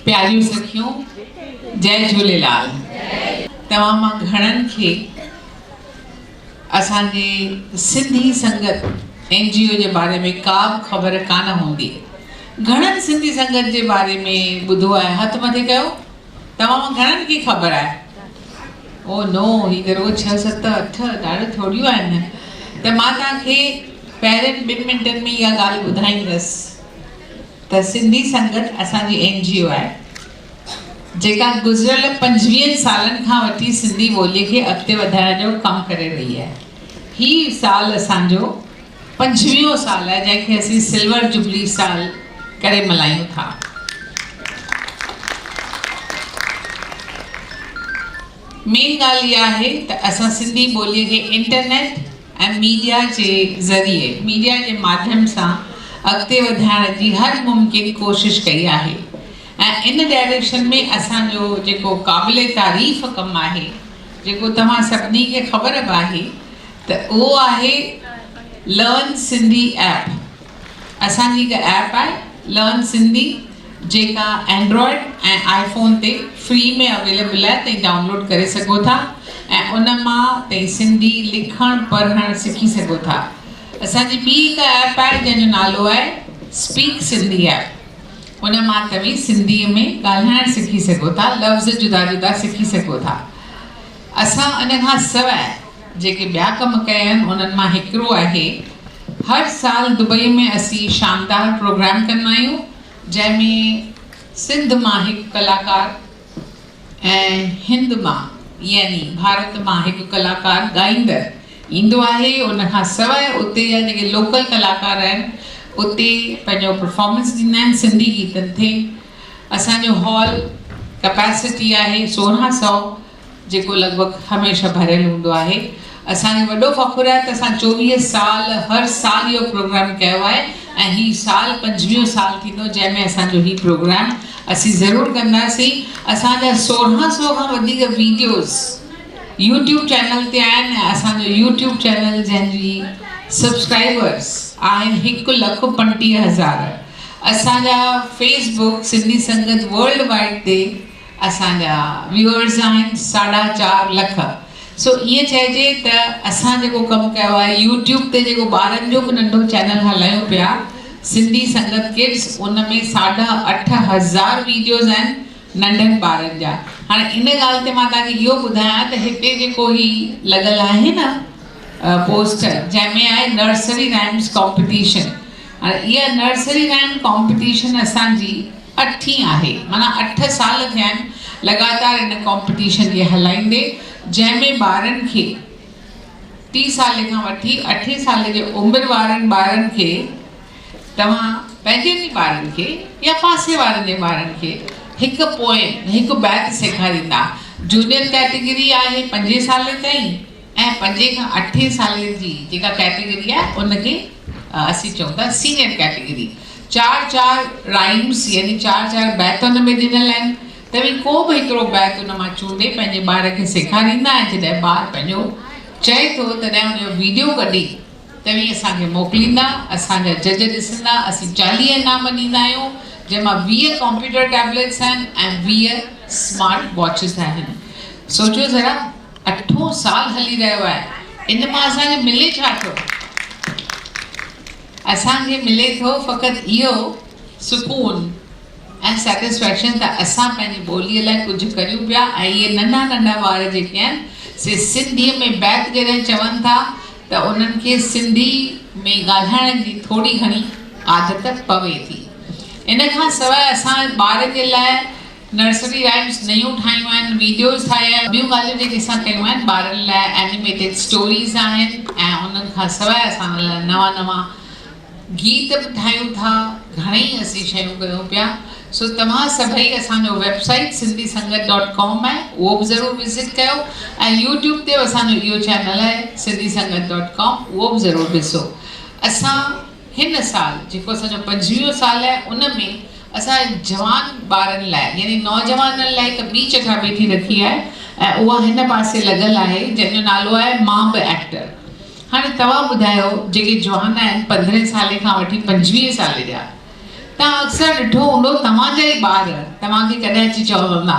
پياريون سکيون جئي جهوليلال توهان مان گهڻن کي اسان جي سنڌي سنگت اين جي او جي باري ۾ ڪا به خبر ڪانه هوندي گهڻن سنڌي سنگت جي باري ۾ ٻڌو آهي هٿ مٿي ڪيو توهان مان گهڻن کي خبر آهي او نو هي ته رڳو ڇهه ست اٺ ڏاڍو ٿوريون آهن ته مان توهان کي پهرين ٻن منٽن ۾ اها ڳالهه ٻڌائيندس ته سنڌي سنگت اسان جي اين جي او آهي جيڪا گذريل پنجويهن سالن کان وٺي سنڌي ٻولي کي اڳتي وڌائڻ جو ڪم ڪري رهي آهي هي سال اسان جو پنجويهون سال آهي جنهن کي اسين سلور جبلي سال ڪري ملهايون ٿا مين ڳالهه اها آهي ته اسان سنڌي ٻولي کي انٽرنيٽ ۽ ميڊيا جي ذريعي، ميڊيا جي ماڌيم سان اڳتي وڌائڻ جي هر ممڪن ڪوشش ڪئي آهي ۽ ان ڊائريڪشن ۾ اسان جو جيڪو قابل تعريف ڪم آهي جيڪو توهان سڀني کي خبر به آهي ته اهو آهي لرن سنڌي ايپ اسان جي هڪ ايپ آهي لرن سنڌي جيڪا اينڊرائيڊ ۽ آئي فون تي فري ۾ اويليبل آهي تهين ڊائونلوڊ ڪري سگهو ٿا ۽ ان مان تهين سنڌي لکڻ پڙهڻ سکي سگهو ٿا اسان جي ٻي هڪ ايپ آهي جنهن جو نالو آهي اسپيڪ سنڌي ايپ ان مان توهين سنڌي ۾ ڳالهائڻ سکي سگهو ٿا لفظ جدا جدا سکي سگهو ٿا اسان ان کان سواء جيڪي ٻيا ڪم ڪيا آهن انهن مان هڪڙو آهي هر سال دبئي ۾ اسين شاندار پروگرام ڪندا آهيون جنهن ۾ سنڌ مان هڪ ڪلاڪار ۽ هند مان يعني ڀارت مان هڪ ڪلاڪار ڳائيندڙ ايندو آهي ان کان سواء اتي جا جيڪي لوڪل ڪلاڪار آهن اتي پنهنجو پرفارمنس ڏيندا آهن سنڌي گيتن تي اسان جو هال ڪپيسٽي آهي سورهن سئو جيڪو لڳ ڀڳ هميشه ڀريل هوندو آهي. اسان کي وڏو فخر آهي ته اسان چوويهه سال هر سال اهو پروگرام ڪيو آهي ۽ هي سال پنجويهون سال ٿيندو جنهن ۾ اسان جو هي پروگرام اسين ضرور ڪنداسين. اسان جا سورهن سو کان وڌيڪ ويڊيوز يوٽيوب چينل تي آهن ۽ اسان جو يوٽيوب چينل جنهن جي سبسڪرائبرز آهن هڪ لک پنٽيهه هزار. اسان جا Facebook Sindhi Sangat world wide تي اسان جا ويوئرز آهن ساڍا چار لک سو ائين چئجي ته اسان جيڪو ڪم ڪيو آهي يوٽيوب تي جيڪو ٻارن جو به ننڍو چينل هلايون پيا سنڌي سنگت ڪڊس ان ۾ ساڍا اٺ هزار ويڊيوز آهن ننڍن ٻارن جا هاڻي ان ڳالهه تي مان توهان کي اهو ٻڌايان ته هتي جيڪو هي لڳل آهي نه پوسٽر جنهن ۾ آهي نرسري رائمس ڪامپيٽيشن اها نرسري رائيم ڪامپٽيشن اسان جي اٺين آهي معنيٰ اٺ سال ٿيا آهن لڳاتار ان ڪامپٽيشن کي هلائيندي جنهن ۾ ٻارن کي ٽي سالي کان وٺي اٺين سالي جي عمر وارن ٻارن کي توهان پنهنجن ئي ٻارن کي يا پاسي وارن جي ٻارن کي هڪ پوئم هڪ بيت سيکاريندا جونيئر ڪيٽيگري آهي پنجين سالي تائين ۽ پنجين کان اٺين سالين جي جيڪا ڪيٽيگري آهي ان کي اسين چئون ٿا سينيئر ڪيٽيگري چار چار رائيمس يعني چار چار بيت ان ۾ ڏنل آهن توهين ڪو به هڪڙو بيت ان مان چونڊي پنهنجي ٻار کي سيکاريندا ۽ جڏهن ٻار پنهنجو چئي ٿو تڏهن ان جو ويڊيو ڪڍي توهين اسان کي موڪليندا اسان جا جج ڏسندا اسين چاليهه انعام ڏيندا آهيون جنهن مان ويهه ڪمپيوٽر ٽيبليٽس آهن ۽ ويهه سمارٽ واچز آهن سوچيو ذرا اٺون سال هلي رهيو آهي ان مان اسان کي ملي ڇا ٿو؟ اسان کي ملي ٿو فقط اهو سڪون ۽ سيٽسفيڪشن ته اسان پنهنجي ٻوليء لاء ڪجهه ڪريون پيا ۽ اهي ننڍا ننڍا ٻار جيڪي آهن سي سنڌيء ۾ بيت جڏهن چون ٿا ته انهن کي سنڌي ۾ ڳالهائڻ جي ٿوري گهڻي عادت پوي ٿي. ان کان سواء اسان ٻارن جي لاء نرسري رائمز نيون ٺاهيون آهن، ويڊيوز ٺاهيا آهن، ٻيون ڳالهيون جيڪي اسان ڪيون آهن ٻارن لاء اينيميٽيڊ اسٽوريز آهن ۽ انهن کان سواء اسان ان لاء نوان نوان گيت به ٺاهيون ٿا، گهڻيئي اسين شيون ڪيون پيا، سو توهان سڀئي اسان جو website Sindhi Sangat dot com آهي اهو به ضرور وزٽ ڪيو ۽ يوٽيوب تي به اسان جو اهو چينل آهي سنڌي سنگت ڊاٽ ڪام اهو به ضرور ڏسو اسان هن سال جيڪو اسان جو پنجويهون سال آهي ان ۾ اسان جوان ٻارن لاء يعني نوجوانن لاء هڪ ٻي چٽا ڀيٽي رکي آهي ۽ اها هن پاسي لڳل آهي جنهن جو نالو آهي مان به ايڪٽر هاڻي توهان ٻڌايو جيڪي جوان آهن پندرهين سالي کان وٺي پنجويهين سالي جا توهان اڪثر ڏٺو هوندو توهان جا ئي ٻار توهان کي ڪڏهن اچي چوندا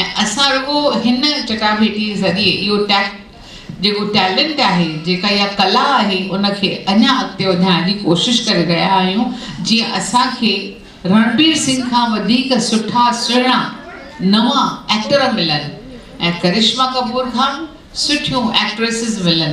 ۽ اسان رڳو هن چٽاڀيٽيء ذريعي اهو ٽيڪٽ، جيڪو ٽيلنٽ آهي، جيڪا اها ڪلا آهي، ان کي اڃا اڳتي وڌائڻ جي ڪوشش ڪري رهيا آهيون، جيئن اسان کي رڻبير سنگهه کان وڌيڪ سٺا سهڻا نوان ايڪٽر ملن ۽ ڪرشما ڪپور کان به سٺيون ايڪٽريسز ملن.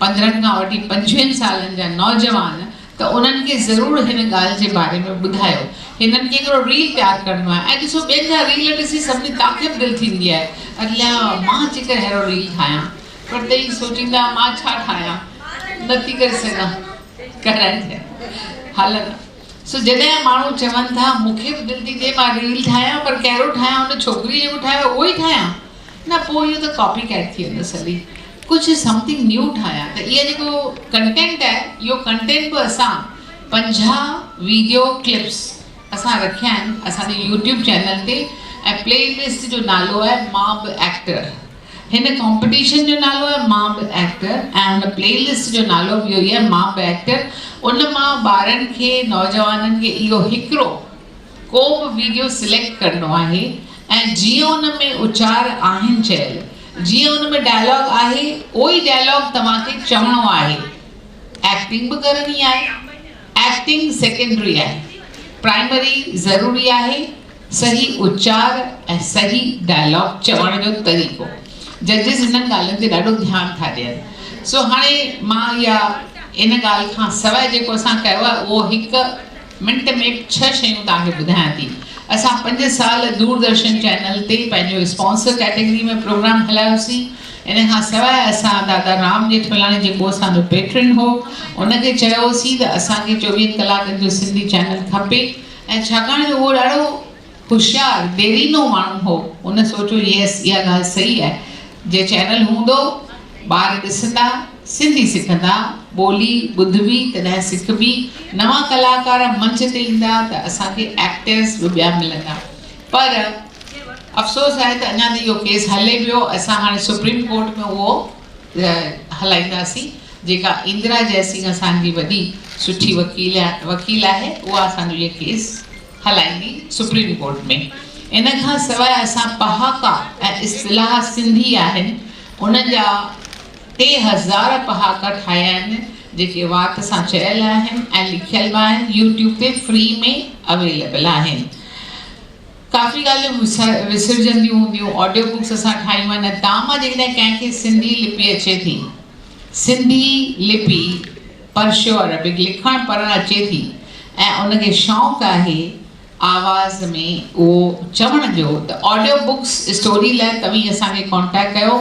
پندرهن کان وٺي پنجويهن سالن جا نوجوان ته انهن کي ضرور هن ڳالهه جي باري ۾ ٻڌايو هنن ڪيترو ريل پيار ڪرڻو آهي ۽ ڏسو ٻين جا ريل ڏسي سڀني تاکي به دل ٿيندي آهي اليا مان جيڪر ههڙو ريل ٺاهيان پر ته ئي سوچيندا مان ڇا ٺاهيان نه ٿي ڪري سگهان ڪرائي ٿي هلن سو جڏهن ماڻهو چون ٿا مون کي به دل ٿي ٿئي مان ريل ٺاهيان پر ڪهڙو ٺاهيان ان ڇوڪري جيڪو ٺاهيو اهو ئي ٺاهيان نه پوء اهو ته ڪاپي ڪيٽ ٿي ويندس هلي ڪجهه سمٿنگ نيو ٺاهيان ته اهي جيڪو ڪنٽينٽ آهي اهو ڪنٽينٽ به اسان پنجاهه ويڊيو ڪلپس اسان رکيا آهن اسان جي يوٽيوب چينل تي ۽ پلي لسٽ جو نالو آهي مان به ايڪٽر هن ڪامپيٽيشن جو نالو آهي مان به ايڪٽر ۽ هن پلي لسٽ جو نالو به اهو ئي آهي مان به ايڪٽر ان مان ٻارن کي نوجوانن کي اهو هڪڙو ڪو به ويڊيو سليڪٽ ڪرڻو آهي ۽ جيئن ان ۾ اچار آهن چيل جيئن ان ۾ ڊائلاگ آهي اهو ئي ڊائلاگ توهان کي چوڻو آهي ايڪٽنگ به ڪرڻي آهي ايڪٽنگ سيڪنڊري آهي پرائمري ضروري آهي صحيح اچار ۽ صحيح ڊائلاگ چوڻ جو طريقو ججز انهن ڳالهين تي ڏاڍو ڌيان ٿا ڏين سو هاڻي مان اها ان ڳالهه کان سواء جيڪو اسان ڪيو آهي اهو هڪ منٽ ۾ ڇهه شيون توهان کي ٻڌايان ٿي. اسان پنج سال دوردرشن چينل تي پنهنجو اسپانسر ڪيٽيگري ۾ پروگرام هلايوسين. ان کان سواء اسان دادا رام ڄيٺملاڻي جيڪو اسان جو پيٽرن هو ان کي چيو هوسين ته اسان کي چوويهن ڪلاڪن جو سنڌي چينل کپي ۽ ڇاڪاڻ جو اهو ڏاڍو هوشيار، ديرينو ماڻهو هو. هن سوچيو ييس اها ڳالهه صحيح آهي. جي چينل هوندو، ٻار ڏسندا، سنڌي سکندا، ٻولي ٻڌبي تڏهن سکبي، نوان ڪلاڪار منچ تي ايندا ته اسان کي ايڪٽرز به ٻيا ملندا. پر افسوس آهي ته اڃا ته اهو ڪيس هلي پيو. اسان هاڻي سپريم ڪورٽ ۾ اهو هلائينداسين جيڪا اندرا جئسنگ اسان جي وڏي سٺي وڪيل وڪيل آهي اها اسان جو اهو ڪيس هلائيندي سپريم ڪورٽ ۾. ان کان سواء اسان پهاڪا ۽ اصطلاح سنڌي آهن ان جا ٽي هزار پهاڪا ٺاهيا آهن جيڪي وات سان چيل آهن ۽ لکيل به آهن يوٽيوب تي فري ۾ اويليبل آهن ڪافي ڳالهيون وسرجنديون هونديون آڊيو بڪس اسان ٺاهيون آهن ۽ تام جيڪڏهن ڪنهن کي سنڌي لپي اچي ٿي سنڌي لپي پرشيو عربڪ لکڻ پڙهڻ اچي ٿي ۽ ان کي شوق آهي آواز ۾ اهو چوڻ جو ته آڊيو بڪس اسٽوري لاء توهين اسان کي ڪانٽيڪٽ ڪيو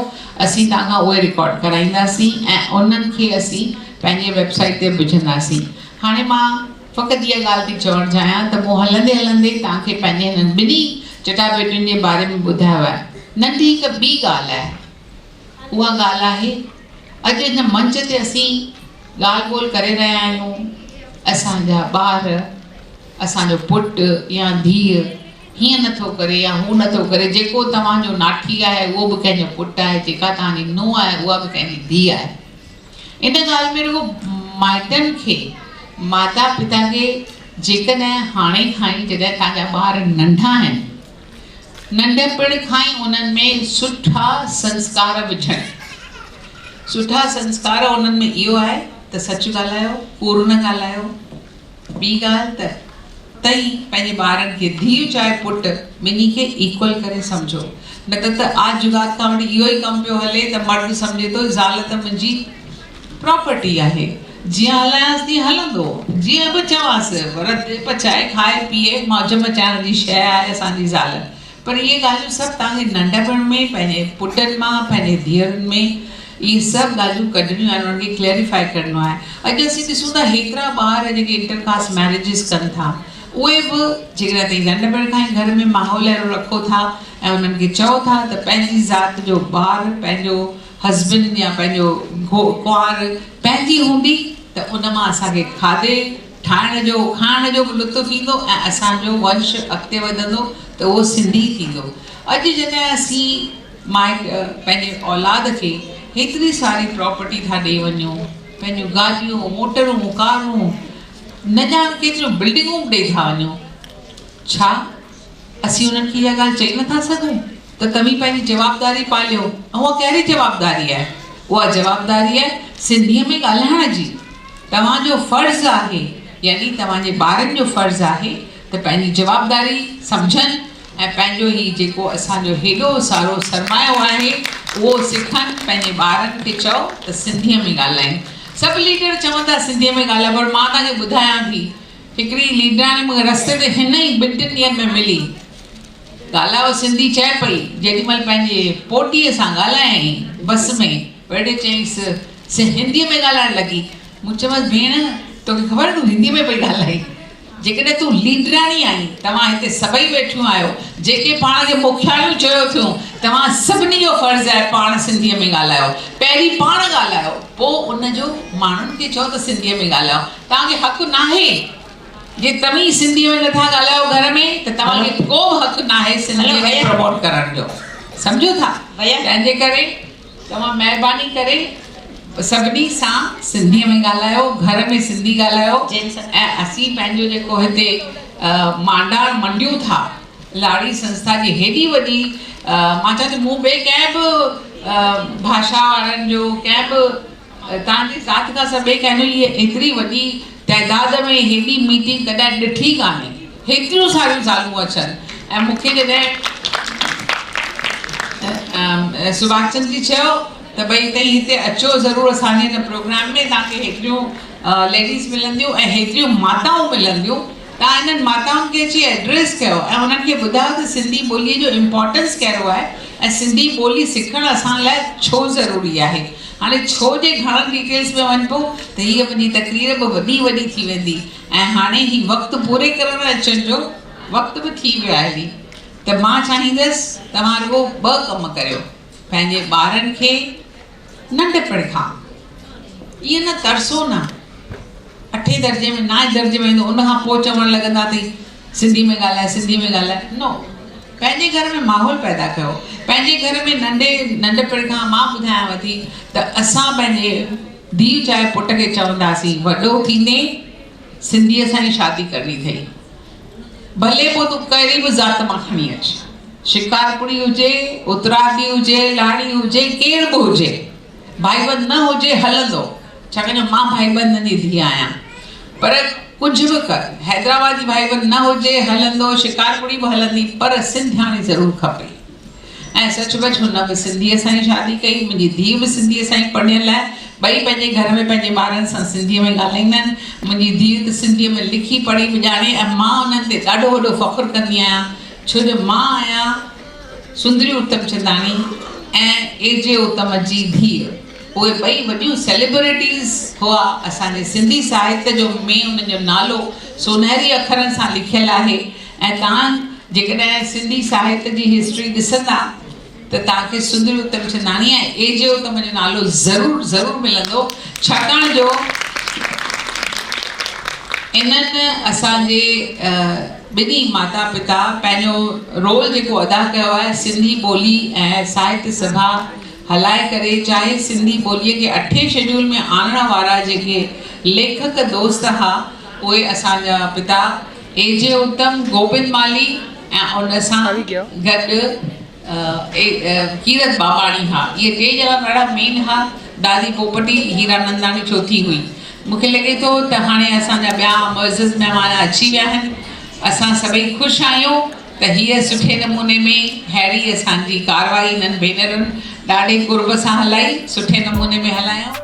اسين توهان کان اهي رڪارڊ ڪرائينداسين ۽ انهن کي اسين پنهنجي ويب سائيٽ تي وجهنداسين هاڻي مان فقط اها ڳالهه ٿي چوڻ چاهيان ته مون هلندي هلندي توهان کي پنهنجي هنن ٻنهي چٽاڀيٽين جي باري ۾ ٻڌايو آهي ننڍي هڪ ٻي ڳالهه آهي اها ڳالهه آهي. اڄ هن منچ تي اسين ڳالهه ٻولهه ڪري رهيا آهيون، اسان جا ٻار، اسان جو پٽ يا ڌيء هيئن نه ٿو ڪري يا هو نه ٿو ڪري، جيڪو توهان جو ناٺي آهي اهو به ڪنهن جو پٽ آهي، جيڪا توهان جي نونهن آهي اها به ڪنهن جي ڌيء آهي. ان ڳالهه ۾ رڳو مائٽن کي، ماتا پتا کي جيڪڏهن هاڻي کان ئي جڏهن توهان جا ٻار ننڍا آهن، ننڍپڻ کان ئي انهن ۾ سٺا سنسڪار وجهڻ. سٺا سنسڪار انهن ۾ اهو آهي ته سچ ڳالهايو، ڪوڙ نه ڳالهايو. ٻي ڳالهه ته تئين پنهنجي ٻارن کي، ڌيء چاهي پٽ، ٻنهي کي ايڪول ڪري سمجهو. نه ته ته آج جگات کان وٺي اهو ئي ڪم پيو هلي ته مرد سمجهي ٿو زال ته منهنجي پراپرٽي آهي جيئن هلانس تيئن هلندو جيئن به چوانس رڌي پچائي کائي پيئي موج مچائڻ جي شيء آهي اسان جي زال پر اهي ڳالهيون سڀ توهان کي ننڍپڻ ۾ پنهنجي پٽن مان پنهنجي ڌيئرن ۾ اهي سڀ ڳالهيون ڪڍڻيون آهن انهن کي ڪليريفائي ڪرڻو آهي اڄ اسين ڏسون ٿا هيترا ٻار جيڪي انٽر ڪاسٽ ميريجز ڪن ٿا اهي به جيڪڏهن توهين ننڍپڻ کان ئي گهر ۾ ماحول اهڙو رکو ٿا ۽ انهن کي چئو ٿا ته پنهنجي ذات جو ٻار پنهنجو هسبنڊ يا پنهنجو گهو ڪنوار پنهنجي هوندي ته ان مان اسان کي کاڌي ٺاهڻ جو کائڻ جو به لطف ايندو ۽ اسان جو ونش اڳتي وڌندو ته اهو سنڌي ٿيندو اڄ جڏهن اسين مائٽ پنهنجي اولاد کي هيتري ساري پراپرٽي ٿا ڏئي وڃون پنهنجون گاڏيون موٽرون ڪارون نه ڄاڻ ڪيتريون بلڊنگون به ڏئي ٿا وڃون ڇا اسين انهن کي اها ڳالهه چئي نٿا سگهون ته توهين پنهنجي جوابداري پاليو ۽ اها ڪهڙي جوابداري آهي؟ اها جوابداري آهي سنڌيء ۾ ڳالهائڻ جي. توهان جو فرض آهي يعني توهان جي ٻارن جو فرض آهي ته پنهنجي جوابداري سمجهن ۽ پنهنجو هي جيڪو اسان جو هيڏو سارو سرمايو آهي اهو سکن پنهنجي ٻارن کي چئو ته سنڌيء ۾ ڳالهائين. سڀ ليڊر چون ٿا سنڌيء ۾ ڳالهائو پر مان توهان کي ٻڌايان ٿي. هڪڙي ليڊاڻي مونکي رستي تي هن ئي ٻن ٽن ڏينهن ۾ ملي. ڳالهائو سنڌي چئي پئي، جيڏي مهل پنهنجي پوٽيء سان ڳالهايائين بس ۾، ويڙهي چيائينس، سي هنديء ۾ ڳالهائڻ لڳي. مون چيومانس، ڀيڻ، توکي خبر آهي تون هنديء ۾ پئي ڳالهائين. جيڪڏهن تون ليڊاڻي آهين، توهان هتي سڀئي ويٺيون آهيو، جيڪي پاڻ کي مکياڻيون چيو ٿيون، توهان سڀني جو فرض آهي پاڻ سنڌيء ۾ ڳالهايو. پهرين پاڻ ڳالهايو، پوء ان جو ماڻهن کي چئو ته سنڌيء ۾ ڳالهايو. توهان کي حق ناهي جي توهين سنڌي ۾ نه ٿا ڳالهايو گهر ۾ ته توهان کي ڪو به حق ناهي سنڌي کي پروموٽ ڪرڻ جو سمجهو ٿا تنهن جي ڪري توهان مهرباني ڪري سڀني سان سنڌي ۾ ڳالهايو گهر ۾ سنڌي ڳالهايو ۽ اسين پنهنجو جيڪو هتي مانڊاڻ منڊيون ٿا لاڙي سنسٿا جي هيڏي وڏي مان چاهيان ٿي مون ٻي ڪنهن به ڀاشا وارن جو ڪنهن به توهان جي ذات کان سواء ٻئي ڪنهن لئي ايتري وڏي تعداد ۾ هيڏي ميٽنگ ڪڏهن ڏٺي ڪانهي. هيتريون ساريون زالون اچن ۽ مون کي جڏهن سباش چند جي چيو ته ڀئي تئين هتي اچو ضرور اسان جي هن پروگرام ۾ توهان کي هيتريون ليڊيز ملنديون ۽ هيتريون ماتائون ملنديون تان انهن ماتائن کي اچي ايڊريس ڪيو ۽ انهن کي ٻڌايو ته سنڌي ٻوليء جو امپارٽنس ڪهڙو آهي ۽ سنڌي ٻولي سکڻ اسان لاء ڇو ضروري آهي. هاڻي ڇو جي گهڻن ڊيٽيلز ۾ وڃبو ته هيء منهنجي تقرير به وڏي وڏي ٿي ويندي ۽ هاڻي هي وقت پوري ڪرڻ اچڻ جو وقت به ٿي ويو آهي ته مان چاهيندس توهان رڳو ٻه ڪم ڪريو پنهنجي ٻارن کي ننڍپڻ کان ائين نه ترسو نه اٺين درجي ۾ نائين درجي ۾ ايندو ان کان پوء چوڻ لڳندا ٿي سنڌي ۾ ڳالهاء سنڌي ۾ ڳالهاء نو پنهنجي گهر ۾ ماحول پيدا ڪيو پنهنجي گهر ۾ ننڍي ننڍپڻ کان مان ٻڌايانو ٿي ته اسان پنهنجي ڌيء چاهي پٽ کي چونداسين وڏو ٿيندين سنڌيء سان ئي شادي ڪرڻي اٿئي ڀلي پوء تون ڪهڙي به ذات مان کڻي اچ، شڪارپوري هجي، اترادي هجي، لاڙي هجي، ڪير به هجي، ڀائيبند نه هجي هلندو، ڇاڪاڻ جو مان ڀائيبندن جي ڌيء آهيان. پر ڪجهه به ڪر، حيدرآباد جي ڀائيبند نه هجي هلندو، شڪارپوري به هلندي، پر سنڌياڻي ضرور کپي. ۽ سچ پچ هن به سنڌيء سان ئي شادي ڪئي. منهنجي ڌيء به سنڌيء سان ئي پڙهيل آهي. ٻئي پنهنجي گهر ۾ پنهنجي ٻارن سان سنڌيء ۾ ڳالهائيندا آهن. منهنجي ڌيء ته سنڌيء ۾ لکي پڙهي به ڄاڻي ۽ مان انهن تي ڏاڍو وڏو فخر ڪندي آهيان ڇو جو مان آهيان سندري اتمچنداڻي ۽ اي جي اتم جي ڌيء. اهي ٻئي وڏيون سيليبريٽيز هئا اسان جي سنڌي ساهت جو ۾ انهن جو نالو سونهري اکرن سان لکيل آهي ۽ توهان جيڪڏهن سنڌي ساهت جي هسٽري ڏسندا ته توهان کي سڌري اتمچنداڻي ۽ اي جي اتم جو نالو ضرور ضرور ملندو ڇاڪاڻ جو انهن اسان جي ٻنهي ماتا پتا پنهنجو رول جيڪو ادا ڪيو آهي سنڌي ٻولي ۽ ساهت سڀا هلائي ڪري چاهي سنڌي ٻوليء کي اٺين شيڊيول ۾ آڻڻ وارا جيڪي ليکڪ دوست ها اهي اسان جا پتا اي جي اتم گوبند مالهي ۽ ان سان گڏ اي ڪيرت ٻاٻاڻي ها اهي ٽي ڄڻا ڏاڍا مين ها دادي پوپٽي هيراننداڻي چوٿين هئي مون کي لڳي ٿو ته هاڻي اسان جا ٻيا معزز مهمان اچي ويا آهن اسان سڀئي خوش آهيون. ته هيء سٺي نموني ۾ ههڙي اسان جي ڪارروائي هنن ڀينرن ڏاڍي قرب سان هلائي، سٺي نموني ۾ هلايائون.